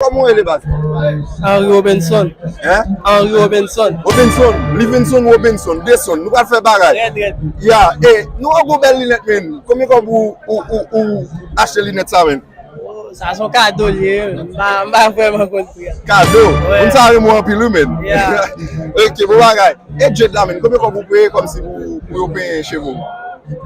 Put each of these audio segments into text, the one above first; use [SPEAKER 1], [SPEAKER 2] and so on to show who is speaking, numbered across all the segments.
[SPEAKER 1] Koman ou rele baz ou? Henry
[SPEAKER 2] Robinson. Hein? Henry
[SPEAKER 1] Robinson.
[SPEAKER 2] Robinson,
[SPEAKER 1] Livinson Robinson, Deson, nou pral fè bagay. Rèd rèd. Ya, e, nou wè gwo bèl linèt menn, konbyen kòb ou, ou, ou, ou achte linèt sa menn? Oh, sa son kado
[SPEAKER 2] li ye, m pa, m pa vrèman konn pri a. Kado? Wè. Moun
[SPEAKER 1] sa yo renmen w anpil wi menn. Ya.
[SPEAKER 2] Ok, bon
[SPEAKER 1] bagay. E dread la menn, konbyen kòb ou peye kòmsi pou, pou yo penyen cheve w?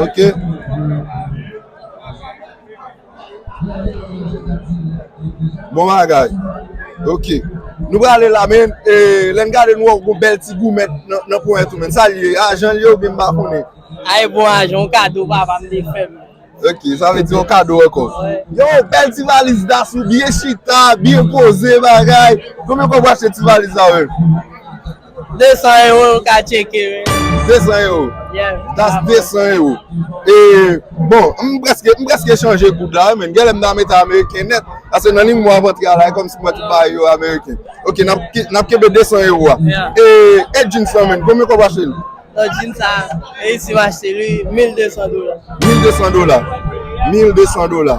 [SPEAKER 1] Ok. Bon bagay. Ok. Nou prale la men, e, lè n gade nou wè yon bèl ti goumèt nan ponyèt ou men. Sa l ye? Ajan l ye oubyen m pa konnen? A e bon ajan,
[SPEAKER 2] yon kado papa m te fè m. Ok, sa vle di
[SPEAKER 1] yon kado ankò. Yo, bèl ti valiz Dasou, byen chita, byen poze bagay. Konbyen kòb w achte ti valiz sa menm? 200
[SPEAKER 2] ewo ou
[SPEAKER 1] ka tcheke
[SPEAKER 2] wi. 200 ewo? Yeah. That's 200 ewo.
[SPEAKER 1] E, bon, m prèske, m prèske chanje goud la menm. Genlè m ta mete ameriken nèt. Pase nan ling mwen avan travay kòm si mwen tout bay yo ameriken. Ok, n ap kenbe 200 ewo a. Yeah. E, e jeans lan menm, konbyen kòb w achte li? Bon, jeans sa,
[SPEAKER 2] reyisi m achte li 1200 dola. 1200 dola.
[SPEAKER 1] 1200 dola.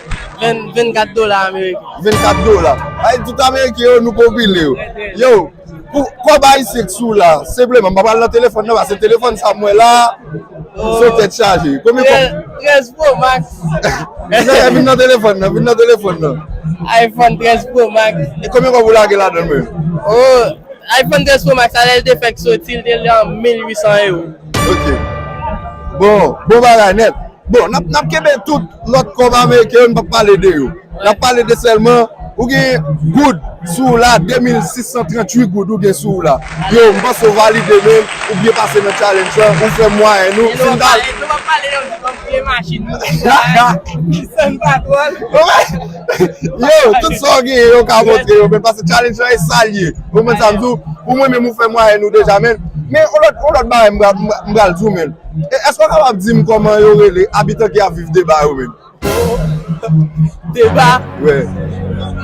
[SPEAKER 1] 24
[SPEAKER 2] dola ameriken. 24 dola.
[SPEAKER 1] Ay tout ameriken yo nou popile yo. Yo, pou kob ayisyen ki sou la, senpleman, m pa pral nan telefòn nan pase telefòn sa m wè la, son tèt chaje. Konbyen kob? 13 pro
[SPEAKER 2] max. Mezanmi vin
[SPEAKER 1] nan telefòn nan, vin nan telefòn nan. Ayfòn 13
[SPEAKER 2] pro max. E konbyen kob ou lage
[SPEAKER 1] ladan l menm? O,
[SPEAKER 2] ayfòn 13 pro max a lè l te fèk soti l te lan 1800 ewo. Ok.
[SPEAKER 1] Bon, bon bagay nèt. Bon, nap nap kenbe tout lòt kòb ameriken yo, nou pap pale de yo. Nap pale de sèlman ou gen goud sou ou la, 2638 goud ou gen sou ou la. Yo, m panse ou valide menm, ou byen pase nan challenge lan, ou fè mwayenn ou. Nou pap pale, nou pap pale yo, nou pap
[SPEAKER 2] pale yo, nou pap pale yo. Kisa n patwòl? Yo, tout
[SPEAKER 1] sa ou genyen yo ka montre yo men paske challenge lan e sa l ye. Ou konprann sa m di ou? Pou mwen menm ou fè mwayèn ou deja men men on lòt on lòt bagay m pral m pral di w menn. Èske ou kapab di m kòman yo rele abitan ki ap viv Deba yo menm? Deba?
[SPEAKER 2] Wi.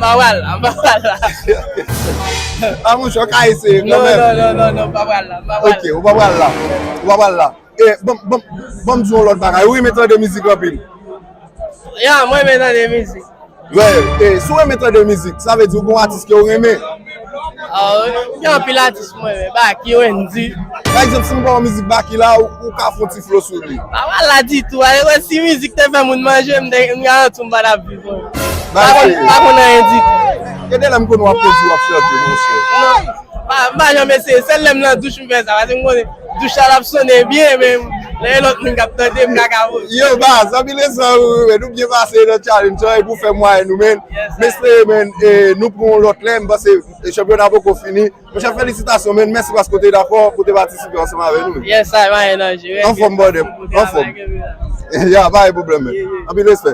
[SPEAKER 1] Pa pral la,
[SPEAKER 2] m pa pral
[SPEAKER 1] la. An mouche, ou ka eseye kanmenm. Non, non, non, non, non, m pa pral la, m pa pral la.
[SPEAKER 2] Ok, ou pa pral la.
[SPEAKER 1] Ou pa pral la. Eh banm banm banm di yon lòt bagay ou renmen tande mizik anpil? Ya
[SPEAKER 2] mwen renmen tande mizik. Vèy e
[SPEAKER 1] si w renmen tande mizik sa vle di ou gen yon atis ke ou renmen? Aw
[SPEAKER 2] gen anpil atis mwen renmen Baky, Wendyy. Pa egzanp si m ba w
[SPEAKER 1] mizik Baky la ou ka fon ti flo sou li? Pa mal la ditou a
[SPEAKER 2] e wè si mizik te fè moun manje m garanti w m pa tap viv anyen. Pa konn pa konn anyen ditou. Gen de lè m konn wè w ap
[SPEAKER 1] kondwi w ap chante monchè. Non pa m pa janm
[SPEAKER 2] eseye sèl lè m nan douch m fè sa paske m konnen Douch la ap sonnen byen men lè e lòt moun kap tande m kaka vo. Yo baz, zanmi
[SPEAKER 1] leson yo wi men nou byen pase nan challenge lan e pou fè mwayen nou men m espere men nou pran yon lòt lè m panse chanpyona an poko fini monchè felisitasyon men mèsi paske w te dakò pou w te patisipe ansanm avè nou men anfòm
[SPEAKER 2] bròdèm
[SPEAKER 1] anfòm ya pa gen pwoblèm men anpil respè.